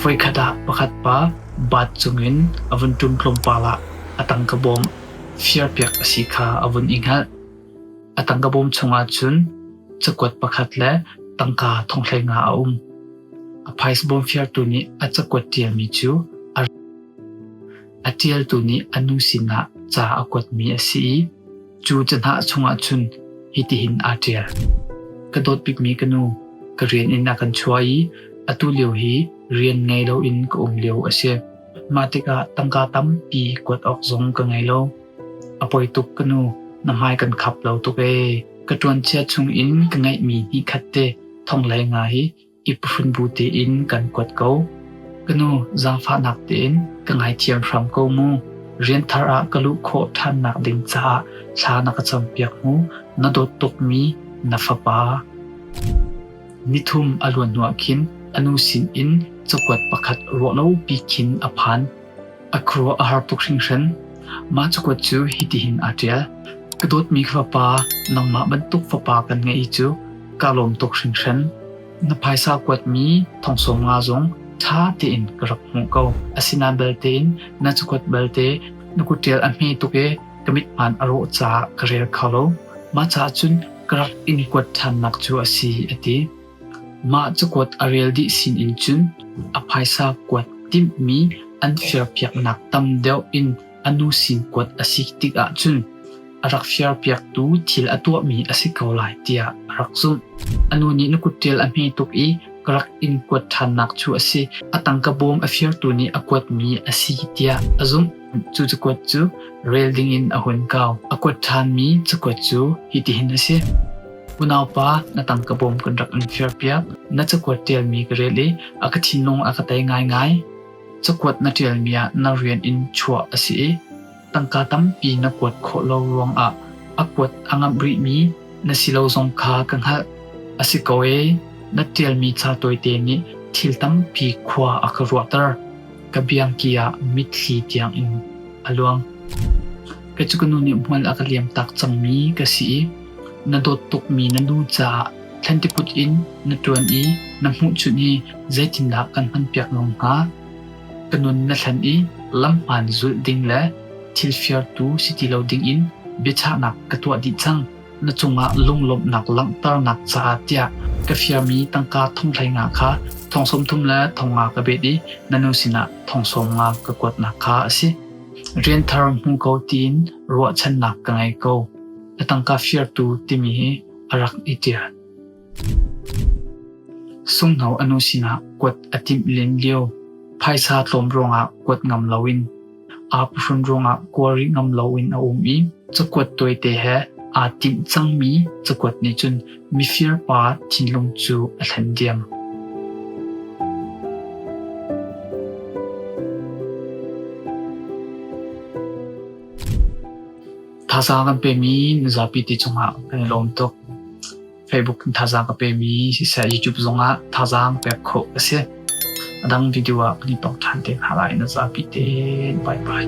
Voikhat ah pakhat pa bat cungin a vun ṭum tlawmpal ah a tangka bawm firpiak a si kha a vun i hngalh. A tangka bawm chungah cun cakuat pakhat le tangka thonghlei nga a um. A phaisa bawm firtu nih a cakuat ṭialmi cu a ri. A ṭialtu nih a nu sinah ca a kuatmi a si i Cu cahnah chungah cun hitihin aa ṭial: Ka dawt bikmi ka nu, ka rian in a kan chuah i atu lio hi rian ngei loin ka um lio a si. Mah tikah tangka tampi kuat awk zong ka ngei lo. A poi tuk ka nu, na hmai kan khap lo tuk ee. Ka ṭuanchia chungin ka ngeihmi ni khat te thonglei nga hi I pahun bu tein kan kuat ko. Ka nu, zaangfahnak tein ka ngaithiam hram ko mu. Rian thar ah ka luh khawh ṭhannak ding caah thla na ka campiak mu. Na dawt tukmi na fapa. Nithum a luan hnuah khin a nu sinin cakuat pakhat ruahlopi khin a phan. A khuaruah a har tuk hringhran. Mah cakuat cu hitihin aa ṭial: Ka dawtmi fapa, nangmah bantuk fapa kan ngeih i cu kaa lawm tuk hringhran. Na phaisa kuatmi thongsawm nga zong ṭha tein ka rak hmuh ko. Asinain balte na cakuat belte na kutṭial a hme tuk i ka mithmaan a rawh caah ka rel kho lo. Mah caah cun ka rak in kuat ṭhannak cu a si, a ti. Mah cakuat a rel dih sinin cun a phaisa kuat timhmi an firpiaknak tam deuh in a nu sin kuat a si tik ahcun a rak firpiaktu thil a tuahmi a si ko lai tiah a rak zumh. A nu nih na kutṭial a hme tuk i ka rak in kuat ṭhannak cu a si. A tangka bawm a firtu nih a kuatmi a si tiah a zumh. Cu cakuat cu rel dingin a hun kau. A kuat ṭhanmi cakuat cu hitihin a si. Unaupa, na tangka bawm kan rak in firpiak. Na cakuat ṭialmi ka relh i a ka thinlung a ka tei ngaingai. Cakuat na ṭialmi ah na rian in chuah a si i tangka tampi na kuat khawh lo ruangah a kuat a ngamh rihmi na si lo zong kha ka hngalh. A si ko ee, na ṭialmi ca tawite nih thil tampi khua a ka ruahter. Ka biangki ah mitthli tiang in a luang. Kei cu ka nu nih hmual a ka liam tak cangmi ka si i Na dawt tukmi na nu caah thlantikut in na ṭuan i na hmuhchunh hi zeitindah kan hmanpiak lawng hnga? Ka nun na hlen i lamhmaan zulh ding le thilfiartu si ti lo dingin biachahnak ka tuah dih cang. Na cungah lunglawmhnak langhternak caah tiah ka fialmi tangka thonghleinga kha thong sawmthum le thong nga ka bet i na nu sinah thong sawm nga ka kuatnak kha a si. Rian thar hmu ko tiin ruahchannak ka ngei ko. Na tangka firtu timi hi a rak i ṭial. Sunghno a nu sinah kuat a timh len lio, phaisa tlawm ruangah kuat ngam loin aa phuhrun ruangah kual rih ngam loin a um i cakuat tawite he aa timh cangmi cakuat nih cun mifirpa thinlung cu a thlen diam. Thazaang kan pemi mizapi te cungah kan i lawm tuk. Facebook in thazaang ka pemi siseh YouTube zongah thazaang pek khawh a si. A dang video ah kan i pok ṭhan te hna lai na zapi te. Bye bye.